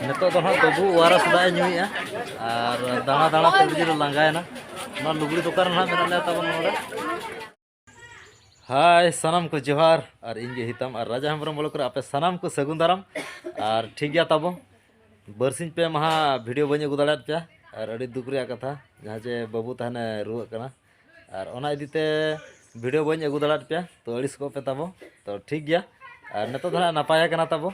ᱱᱤᱛᱚᱜ ᱫᱚ ᱦᱟᱸᱜ ᱵᱟᱹᱵᱩ ᱣᱟᱨᱟᱥ ᱫᱟᱜ ᱮ ᱧᱩᱭᱮᱜᱼᱟ ᱟᱨ ᱫᱟᱬᱟ ᱫᱟᱬᱟ ᱛᱮ ᱟᱹᱰᱤ ᱡᱳᱨᱮ ᱞᱟᱸᱜᱟᱭᱮᱱᱟ ᱚᱱᱟ ᱞᱩᱜᱽᱲᱤ ᱫᱚᱠᱟᱱ ᱨᱮ ᱦᱟᱸᱜ ᱢᱮᱱᱟᱜ ᱞᱮᱭᱟ ᱛᱟᱵᱚᱱ ᱱᱚᱰᱮ ᱦᱟᱭ ᱥᱟᱱᱟᱢ ᱠᱚ ᱡᱚᱦᱟᱨ ᱟᱨ ᱤᱧ ᱜᱮ ᱦᱤᱛᱟᱢ ᱟᱨ ᱨᱟᱡᱟ ᱦᱮᱢᱵᱨᱚᱢ ᱵᱚᱞᱚᱠ ᱨᱮ ᱟᱯᱮ ᱥᱟᱱᱟᱢ ᱠᱚ ᱥᱟᱹᱜᱩᱱ ᱫᱟᱨᱟᱢ ᱟᱨ ᱴᱷᱤᱠ ᱜᱮᱭᱟ ᱛᱟᱵᱚ ᱵᱟᱹᱨᱥᱤᱧ ᱯᱮ ᱢᱟᱦᱟ ᱵᱷᱤᱰᱤᱭᱳ ᱵᱟᱹᱧ ᱟᱹᱜᱩ ᱫᱟᱲᱮᱭᱟᱫ ᱯᱮᱭᱟ ᱟᱨ ᱟᱹᱰᱤ ᱫᱩᱠ ᱨᱮᱭᱟᱜ ᱠᱟᱛᱷᱟ ᱡᱟᱦᱟᱸ ᱡᱮ ᱵᱟᱹᱵᱩ ᱛᱟᱦᱮᱱᱮ ᱨᱩᱣᱟᱹᱜ ᱠᱟᱱᱟ ᱟᱨ ᱚᱱᱟ ᱤᱫᱤ ᱛᱮ ᱵᱷᱤᱰᱤᱭᱳ ᱵᱟᱹᱧ ᱟᱹᱜᱩ ᱫᱟᱲᱮᱭᱟᱫ ᱯᱮᱭᱟ ᱛᱚ ᱟᱹᱲᱤᱥ ᱠᱚᱜ ᱯᱮ ᱛᱟᱵᱚ ᱛᱚ ᱴᱷᱤᱠ ᱜᱮᱭᱟ ᱟᱨ ᱱᱤᱛᱚᱜ ᱫᱚ ᱦᱟᱸᱜ ᱱᱟᱯᱟᱭ ᱠᱟᱱᱟ ᱛᱟᱵᱚ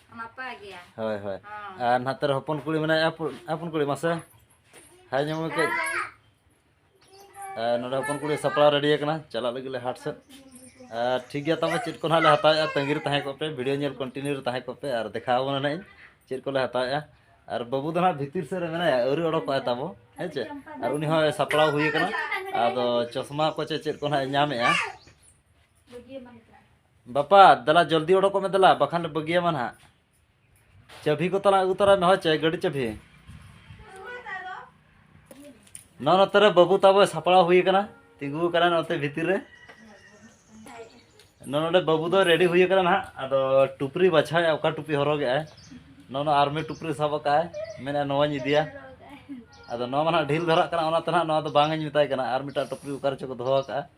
ᱱᱟᱯᱟᱭ ᱜᱮᱭᱟ ᱦᱳᱭ ᱦᱳᱭ ᱟᱨ ᱱᱟᱛᱮ ᱨᱮ ᱦᱚᱯᱚᱱ ᱠᱩᱲᱤ ᱢᱮᱱᱟᱭᱟ ᱦᱚᱯᱚᱱ ᱠᱩᱲᱤ ᱢᱟᱥᱮ ᱦᱟᱭ ᱧᱟᱢ ᱠᱟᱹᱡ ᱟᱨ ᱱᱚᱰᱮ ᱦᱚᱯᱚᱱ ᱠᱩᱲᱤ ᱥᱟᱯᱲᱟᱣ ᱨᱮᱰᱤ ᱟᱠᱟᱱᱟ ᱪᱟᱞᱟᱜ ᱞᱟᱹᱜᱤᱫ ᱞᱮ ᱦᱟᱴ ᱥᱮᱫ ᱟᱨ ᱴᱷᱤᱠ ᱜᱮᱭᱟ ᱛᱟᱵᱚ ᱪᱮᱫ ᱠᱚ ᱱᱟᱦᱟᱜ ᱞᱮ ᱦᱟᱛᱟᱣᱮᱜᱼᱟ ᱛᱟᱺᱜᱤ ᱨᱮ ᱛᱟᱦᱮᱸ ᱠᱚᱜ ᱯᱮ ᱵᱷᱤᱰᱤᱭᱳ ᱧᱮᱞ ᱠᱚᱱᱴᱤᱱᱤᱭᱩ ᱨᱮ ᱛᱟᱦᱮᱸ ᱠᱚᱜ ᱯᱮ ᱟᱨ ᱫᱮᱠᱷᱟᱣ ᱟᱵᱚᱱᱟ ᱱᱟᱦᱟᱜ ᱤᱧ ᱪᱮᱫ ᱠᱚᱞᱮ ᱦᱟᱛᱟᱣᱮᱜᱼᱟ ᱟᱨ ᱵᱟᱹᱵᱩ ᱫᱚ ᱱᱟᱦᱟᱜ ᱵᱷᱤᱛᱤᱨ ᱥᱮᱫ ᱨᱮ ᱢᱮᱱᱟᱭᱟ ᱟᱹᱣᱨᱤ ᱚᱰᱚᱠᱚᱜᱼᱟᱭ ᱛᱟᱵᱚ ᱦᱮᱸ ᱪᱮ ᱟᱨ ᱩᱱᱤ ᱦᱚᱸ ᱥᱟᱯᱲᱟᱣ ᱦᱩᱭ ᱟᱠᱟᱱᱟ ᱟᱫᱚ ᱪᱚᱥᱢᱟ ᱠᱚ ᱪᱮ ᱪᱮᱫ ᱠᱚ ᱱᱟᱦᱟᱜ ᱧᱟᱢᱮᱜᱼᱟ ᱵᱟᱯᱟ ᱫᱮᱞᱟ ᱡᱚᱞᱫᱤ ᱚᱰᱚᱠᱚᱜ ᱢᱮ ᱫᱮᱞᱟ ᱵᱟᱠᱷᱟᱱ ᱞᱮ ᱵᱟᱹᱜᱤᱭᱟᱢᱟ ᱱᱟᱦᱟᱜ ᱪᱟᱹᱵᱷᱤ ᱠᱚ ᱛᱟᱞᱟᱝ ᱟᱹᱜᱩ ᱛᱚᱨᱟᱭ ᱢᱮ ᱦᱚᱪᱮ ᱜᱟᱹᱰᱤ ᱪᱟᱹᱵᱷᱤ ᱱᱚᱣᱟ ᱱᱚᱛᱮ ᱨᱮ ᱵᱟᱹᱵᱩ ᱛᱟᱵᱚ ᱥᱟᱯᱲᱟᱣ ᱦᱩᱭ ᱟᱠᱟᱱᱟ ᱛᱤᱸᱜᱩ ᱟᱠᱟᱱᱟ ᱱᱚᱛᱮ ᱵᱷᱤᱛᱤᱨ ᱨᱮ ᱱᱚᱣᱟ ᱱᱚᱰᱮ ᱵᱟᱹᱵᱩ ᱫᱚ ᱨᱮᱰᱤ ᱦᱩᱭ ᱟᱠᱟᱱᱟ ᱱᱟᱦᱟᱜ ᱟᱫᱚ ᱴᱩᱯᱨᱤ ᱵᱟᱪᱷᱟᱣᱮᱜᱼᱟ ᱚᱠᱟ ᱴᱩᱯᱤ ᱦᱚᱨᱚᱜᱮᱜᱼᱟᱭ ᱱᱚᱣᱟ ᱱᱚᱣᱟ ᱟᱨᱢᱤ ᱴᱩᱯᱨᱤ ᱥᱟᱵ ᱟᱠᱟᱜᱼᱟᱭ ᱢᱮᱱᱮᱫᱼᱟ ᱱᱚᱣᱟᱧ ᱤᱫᱤᱭᱟ ᱟᱫᱚ ᱱᱚᱣᱟ ᱢᱟ ᱱᱟᱦᱟᱜ ᱰᱷᱤᱞ ᱫᱷᱟᱨᱟᱜ ᱠᱟᱱᱟ ᱚᱱᱟᱛᱮ ᱱᱟᱦᱟᱜ ᱱᱚᱣᱟ ᱫᱚ ᱵᱟᱝ ᱤᱧ ᱢᱮᱛᱟᱭ ᱠᱟᱱᱟ ᱟᱨ ᱢᱤᱫᱴᱟᱝ ᱴᱩᱯᱨᱤ ᱚᱠᱟ ᱨᱮᱪᱚ ᱠᱚ ᱫᱚᱦᱚ ᱟᱠᱟᱜᱼᱟ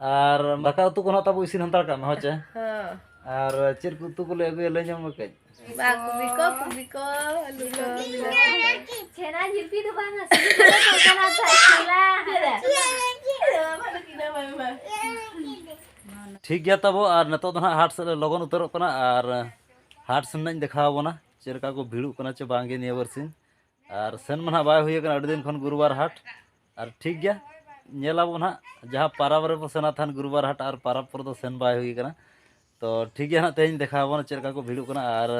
ᱟᱨ ᱫᱟᱠᱟ ᱩᱛᱩ ᱠᱚ ᱱᱟᱜ ᱛᱟᱵᱚ ᱤᱥᱤᱱ ᱦᱟᱱᱛᱟᱲ ᱠᱟᱜ ᱢᱮ ᱦᱚᱸ ᱪᱮ ᱟᱨ ᱪᱮᱫ ᱠᱚ ᱩᱛᱩ ᱠᱚᱞᱮ ᱟᱹᱜᱩᱭᱟ ᱞᱟᱹᱭ ᱧᱟᱢ ᱠᱟᱹᱡ ᱠᱩᱵᱤ ᱠᱚ ᱠᱩᱵᱤ ᱠᱚ ᱟᱹᱞᱩ ᱠᱚ ᱪᱷᱮᱱᱟ ᱡᱤᱞᱯᱤ ᱫᱚ ᱵᱟᱝ ᱴᱷᱤᱠ ᱜᱮᱭᱟ ᱛᱟᱵᱚ ᱟᱨ ᱱᱤᱛᱚᱜ ᱫᱚ ᱱᱟᱜ ᱦᱟᱴ ᱥᱮᱫ ᱞᱮ ᱞᱚᱜᱚᱱ ᱩᱛᱟᱹᱨᱚᱜ ᱠᱟᱱᱟ ᱟᱨ ᱦᱟᱴ ᱥᱮᱱ ᱱᱟᱜ ᱫᱮᱠᱷᱟᱣ ᱟᱵᱚᱱᱟ ᱪᱮᱫ ᱞᱮᱠᱟ ᱠᱚ ᱵᱷᱤᱲᱚᱜ ᱠᱟᱱᱟ ᱪᱮ ᱵᱟᱝᱜᱮ ᱱᱤᱭᱟᱹ ᱵᱟᱨᱥᱤᱧ ᱟᱨ ᱥᱮᱱ ᱢᱟ ᱱᱟᱜ ᱵᱟᱭ ᱦᱩᱭ ᱟᱠᱟᱱᱟ ᱟᱹᱰᱤ ᱫᱤᱱ ᱠᱷᱚᱱ ᱜᱩᱨᱩᱵᱟᱨ ᱦᱟᱴ ᱟᱨ ᱴᱷᱤᱠ ᱜᱮᱭᱟ ᱧᱮᱞ ᱟᱵᱚ ᱱᱟᱦᱟᱜ ᱡᱟᱦᱟᱸ ᱯᱟᱨᱟᱵᱽ ᱨᱮᱵᱚ ᱥᱮᱱᱟ ᱛᱟᱦᱮᱱ ᱜᱩᱨᱩᱵᱟᱨ ᱦᱟᱴ ᱟᱨ ᱯᱟᱨᱟᱵᱽ ᱠᱚᱨᱮ ᱫᱚ ᱥᱮᱱ ᱵᱟᱭ ᱦᱩᱭ ᱠᱟᱱᱟ ᱛᱚ ᱴᱷᱤᱠ ᱜᱮᱭᱟ ᱱᱟᱦᱟᱜ ᱛᱮᱦᱮᱧ ᱫᱮᱠᱷᱟᱣ ᱟᱵᱚᱱᱟ ᱪᱮᱫ ᱞᱮᱠᱟ ᱠᱚ ᱵᱷᱤᱲᱚᱜ ᱠᱟᱱᱟ ᱟᱨ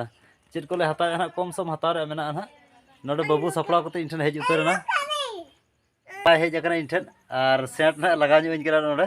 ᱪᱮᱫ ᱠᱚᱞᱮ ᱦᱟᱛᱟᱣᱮᱫᱼᱟ ᱱᱟᱦᱟᱜ ᱠᱚᱢ ᱥᱚᱢ ᱦᱟᱛᱟᱣ ᱨᱮᱭᱟᱜ ᱢᱮᱱᱟᱜᱼᱟ ᱱᱟᱦᱟᱜ ᱱᱚᱰᱮ ᱵᱟᱹᱵᱩ ᱥᱟᱯᱲᱟᱣ ᱠᱟᱛᱮ ᱤᱧ ᱴᱷᱮᱱ ᱦᱮᱡ ᱩᱛᱟᱹᱨ ᱮᱱᱟ ᱵᱟᱭ ᱦᱮᱡ ᱟᱠᱟᱱᱟ ᱤᱧ ᱴᱷᱮᱱ ᱟᱨ ᱥᱮᱱᱴ ᱱᱟᱦᱟᱜ ᱞᱟᱜᱟᱣ ᱧᱚᱜ ᱤᱧ ᱠᱟᱱᱟ ᱱᱚᱰᱮ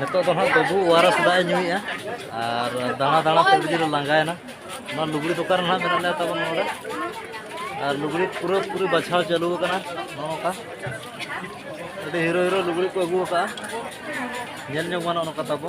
ᱱᱤᱛᱚᱜ ᱫᱚ ᱦᱟᱸᱜ ᱵᱟᱹᱵᱩ ᱳᱣᱟᱨᱟᱥ ᱫᱟᱜ ᱮ ᱧᱩᱭᱮᱜᱼᱟ ᱟᱨ ᱫᱟᱬᱟ ᱫᱟᱬᱟ ᱛᱮ ᱟᱹᱰᱤ ᱡᱳᱨᱮ ᱞᱟᱸᱜᱟᱭᱮᱱᱟ ᱱᱚᱣᱟ ᱞᱩᱜᱽᱲᱤ ᱫᱚᱠᱟᱱ ᱨᱮ ᱦᱟᱸᱜ ᱢᱮᱱᱟᱜ ᱞᱮᱭᱟ ᱛᱟᱵᱚᱱ ᱱᱚᱰᱮ ᱟᱨ ᱞᱩᱜᱽᱲᱤ ᱯᱩᱨᱟᱹ ᱯᱩᱨᱤ ᱵᱟᱪᱷᱟᱣ ᱪᱟᱹᱞᱩ ᱟᱠᱟᱱᱟ ᱱᱚᱝᱠᱟ ᱟᱹᱰᱤ ᱦᱤᱨᱳ ᱦᱤᱨᱳ ᱞᱩᱜᱽᱲᱤ ᱠᱚ ᱟᱹᱜᱩ ᱟᱠᱟᱫᱼᱟ ᱧᱮᱞ ᱧᱚᱜ ᱜᱟᱱᱚᱜᱼᱟ ᱱᱚᱝᱠᱟ ᱛᱟᱵᱚ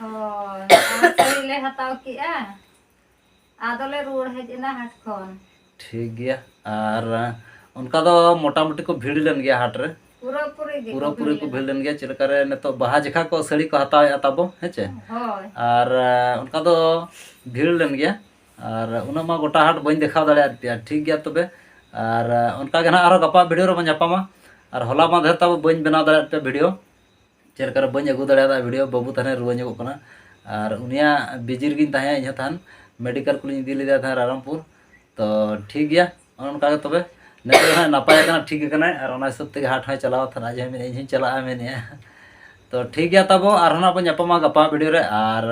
ᱦᱳᱭ ᱥᱟᱹᱲᱤ ᱞᱮ ᱦᱟᱛᱟᱣ ᱠᱮᱜᱼᱟ ᱟᱫᱚ ᱞᱮ ᱨᱩᱣᱟᱹᱲ ᱦᱮᱡ ᱮᱱᱟ ᱦᱟᱴ ᱠᱷᱚᱱ ᱴᱷᱤᱠ ᱜᱮᱭᱟ ᱟᱨ ᱚᱱᱠᱟ ᱫᱚ ᱢᱚᱴᱟᱢᱩᱴᱤ ᱠᱚ ᱵᱷᱤᱲ ᱞᱮᱱ ᱜᱮᱭᱟ ᱦᱟᱴ ᱨᱮ ᱯᱩᱨᱟᱹ ᱯᱩᱨᱤ ᱜᱮ ᱯᱩᱨᱟᱹ ᱯᱩᱨᱤ ᱠᱚ ᱵᱷᱤᱲ ᱞᱮᱱ ᱜᱮᱭᱟ ᱪᱮᱫ ᱞᱮᱠᱟᱨᱮ ᱱᱤᱛᱚᱜ ᱵᱟᱦᱟ ᱡᱮᱠᱷᱟ ᱠᱚ ᱥᱟᱹᱲᱤ ᱠᱚ ᱦᱟᱛᱟᱣᱮᱫᱼᱟ ᱛᱟᱵᱚ ᱦᱮᱸ ᱪᱮ ᱦᱳᱭ ᱟᱨ ᱚᱱᱠᱟ ᱫᱚ ᱵᱷᱤᱲ ᱞᱮᱱ ᱜᱮᱭᱟ ᱟᱨ ᱩᱱᱟᱹᱜ ᱢᱟ ᱜᱚᱴᱟ ᱦᱟᱴ ᱵᱟᱹᱧ ᱫᱮᱠᱷᱟᱣ ᱫᱟᱲᱮᱭᱟᱫ ᱯᱮᱭᱟ ᱴᱷᱤᱠ ᱜᱮᱭᱟ ᱛᱚᱵᱮ ᱟᱨ ᱚᱱᱠᱟ ᱜᱮ ᱱᱟᱦᱟᱜ ᱟᱨᱦᱚᱸ ᱜᱟᱯᱟ ᱵᱷᱤᱰᱤᱭᱳ ᱨᱮᱵᱚᱱ ᱧᱟᱯᱟᱢᱟ ᱟᱨ ᱦᱚᱞᱟ ᱢᱟᱫᱷᱮᱨ ᱛᱟᱵᱚ ᱵᱟᱹᱧ ᱵᱮᱱᱟᱣ ᱫᱟᱲᱮᱭᱟᱫ ᱯᱮᱭᱟ ᱵᱷᱤᱰᱤᱭᱳ ᱪᱮᱫ ᱞᱮᱠᱟᱨᱮ ᱵᱟᱹᱧ ᱟᱹᱜᱩ ᱫᱟᱲᱮᱭᱟᱫᱟ ᱵᱷᱤᱰᱤᱭᱳ ᱵᱟᱹᱵᱩ ᱛᱟᱦᱮᱱᱮ ᱨᱩᱣᱟᱹ ᱧᱚᱜᱚᱜ ᱠᱟᱱᱟ ᱟᱨ ᱩᱱᱤᱭᱟᱜ ᱵᱤᱡᱤ ᱨᱮᱜᱮᱧ ᱛᱟᱦᱮᱸ ᱤᱧᱦᱚᱸ ᱛᱟᱦᱮᱱ ᱢᱮᱰᱤᱠᱟᱞ ᱠᱚᱞᱤᱧ ᱤᱫᱤ ᱞᱮᱫᱮᱭᱟ ᱛᱟᱦᱮᱸ ᱨᱟᱭᱨᱚᱝᱯᱩᱨ ᱛᱚ ᱴᱷᱤᱠ ᱜᱮᱭᱟ ᱚᱱᱮ ᱚᱱᱠᱟ ᱜᱮ ᱛᱚᱵᱮ ᱱᱤᱛᱚᱜ ᱦᱟᱸᱜ ᱱᱟᱯᱟᱭ ᱠᱟᱱᱟ ᱴᱷᱤᱠ ᱠᱟᱱᱟᱭ ᱟᱨ ᱚᱱᱟ ᱦᱤᱥᱟᱹᱵ ᱛᱮᱜᱮ ᱦᱟᱴ ᱦᱚᱸᱭ ᱪᱟᱞᱟᱣ ᱛᱟᱦᱮᱱᱟ ᱟᱡ ᱦᱚᱸᱭ ᱢᱮᱱᱮᱫᱼᱟ ᱤᱧᱦᱚᱸᱧ ᱪᱟᱞᱟᱜᱼᱟ ᱢᱮᱱᱮᱫᱼᱟ ᱛᱚ ᱴᱷᱤᱠ ᱜᱮᱭᱟ ᱛᱟᱵᱚ ᱟᱨᱦᱚᱸ ᱱᱟᱜ ᱵᱚᱱ ᱧᱟᱯᱟᱢᱟ ᱜᱟᱯᱟ ᱵᱷᱤᱰᱤᱭᱳ ᱨᱮ ᱟᱨ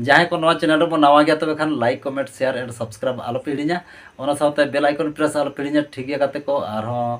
ᱡᱟᱦᱟᱸᱭ ᱠᱚ ᱱᱚᱣᱟ ᱪᱮᱱᱮᱞ ᱨᱮᱵᱚᱱ ᱱᱟᱣᱟ ᱜᱮᱭᱟ ᱛᱚᱵᱮ ᱠᱷᱟᱱ like comment share and subscribe ᱟᱞᱚᱯᱮ ᱦᱤᱲᱤᱧᱟ ᱚᱱᱟ ᱥᱟᱶᱛᱮ ᱵᱮᱞ ᱟᱭᱠᱚᱱ ᱯᱨᱮᱥ ᱟᱞᱚᱯᱮ ᱦᱤᱲᱤᱧᱟ ᱴᱷᱤᱠ ᱜᱮᱭᱟ ᱜᱟᱛᱮ ᱠᱚ ᱟᱨᱦᱚᱸ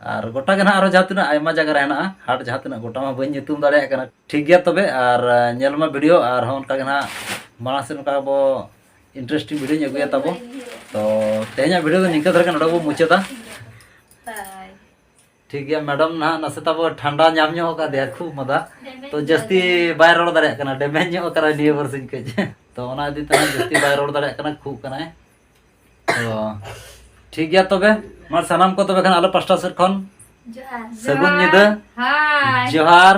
ᱟᱨ ᱜᱚᱴᱟ ᱜᱮ ᱱᱟᱦᱟᱜ ᱟᱨᱚ ᱡᱟᱦᱟᱸ ᱛᱤᱱᱟᱹᱜ ᱟᱭᱢᱟ ᱡᱟᱭᱜᱟ ᱨᱮ ᱦᱮᱱᱟᱜᱼᱟ ᱦᱟᱴ ᱡᱟᱦᱟᱸ ᱛᱤᱱᱟᱹᱜ ᱜᱚᱴᱟ ᱢᱟ ᱵᱟᱹᱧ ᱧᱩᱛᱩᱢ ᱫᱟᱲᱮᱭᱟᱜ ᱠᱟᱱᱟ ᱴᱷᱤᱠ ᱜᱮᱭᱟ ᱛᱚᱵᱮ ᱟᱨ ᱧᱮᱞ ᱢᱟ ᱵᱷᱤᱰᱤᱭᱳ ᱟᱨ ᱦᱚᱸ ᱚᱱᱠᱟ ᱜᱮ ᱱᱟᱦᱟᱜ ᱢᱟᱲᱟᱝ ᱥᱮᱫ ᱱᱚᱝᱠᱟ ᱟᱵᱚ ᱤᱱᱴᱟᱨᱮᱥᱴᱤᱝ ᱵᱷᱤᱰᱤᱭᱳᱧ ᱟᱹᱜᱩᱭᱟ ᱛᱟᱵᱚ ᱛᱚ ᱛᱮᱦᱮᱧᱟᱜ ᱵᱷᱤᱰᱤᱭᱳ ᱫᱚ ᱱᱤᱝᱠᱟᱹ ᱫᱷᱟᱨᱟ ᱜᱮ ᱱᱚᱰᱮ ᱵᱚ ᱢᱩᱪᱟᱹᱫᱟ ᱴᱷᱤᱠ ᱜᱮᱭᱟ ᱢᱮᱰᱟᱢ ᱱᱟᱦᱟᱜ ᱱᱟᱥᱮ ᱛᱟᱵᱚ ᱴᱷᱟᱱᱰᱟ ᱧᱟᱢ ᱧᱚᱜ ᱟᱠᱟᱫᱮᱭᱟ ᱠᱷᱩᱵ ᱢᱟᱫᱟ ᱛᱚ ᱡᱟᱹᱥᱛᱤ ᱵᱟᱭ ᱨᱚᱲ ᱫᱟᱲᱮᱭᱟᱜ ᱠᱟᱱᱟ ᱰᱮᱢᱮᱡᱽ ᱧᱚᱜ ᱟᱠᱟᱱᱟ ᱱᱤᱭᱟᱹ ᱵᱟᱨᱥᱤᱧ ᱠᱟᱹᱡ ᱛᱚ ᱚᱱᱟ ᱤᱫᱤ ᱛᱮ ᱡᱟᱹᱥᱛᱤ ᱵᱟᱭ ᱨᱚᱲ ᱫᱟᱲᱮᱭᱟᱜ ᱠᱟᱱᱟ ᱠᱷᱩᱜ ᱠᱟᱱᱟᱭ ᱴᱷᱤᱠ ᱜᱮᱭᱟ ᱛᱚᱵᱮ ᱢᱟ ᱥᱟᱱᱟᱢ ᱠᱚ ᱛᱚᱵᱮ ᱠᱷᱟᱱ ᱟᱞᱮ ᱯᱟᱥᱴᱟ ᱥᱮᱫ ᱠᱷᱚᱱ ᱥᱟᱹᱜᱩᱱ ᱧᱤᱫᱟᱹ ᱡᱚᱦᱟᱨ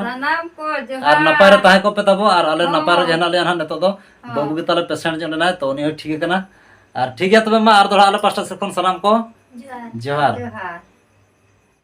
ᱟᱨ ᱱᱟᱯᱟᱭ ᱨᱮ ᱛᱟᱦᱮᱸ ᱠᱚᱯᱮ ᱛᱟᱵᱚ ᱟᱨ ᱟᱞᱮ ᱱᱟᱯᱟᱭ ᱨᱮ ᱦᱮᱱᱟᱜ ᱞᱮᱭᱟ ᱦᱟᱸᱜ ᱱᱤᱛᱚᱜ ᱫᱚ ᱵᱟᱹᱵᱩ ᱜᱮ ᱛᱟᱞᱮ ᱯᱮᱥᱮᱱᱴ ᱧᱚᱜ ᱞᱮᱱᱟᱭ ᱛᱚ ᱩᱱᱤ ᱦᱚᱸ ᱴᱷᱤᱠ ᱟᱠᱟᱱᱟ ᱟᱨ ᱴᱷᱤᱠ ᱜᱮᱭᱟ ᱛᱚᱵᱮ ᱢᱟ ᱟᱨ ᱫᱚᱲᱦᱟ ᱟᱞᱮ ᱯᱟᱥᱴᱟ ᱥᱮᱫ ᱠᱷᱚᱱ ᱥᱟᱱᱟᱢ ᱠᱚ ᱡᱚᱦᱟᱨ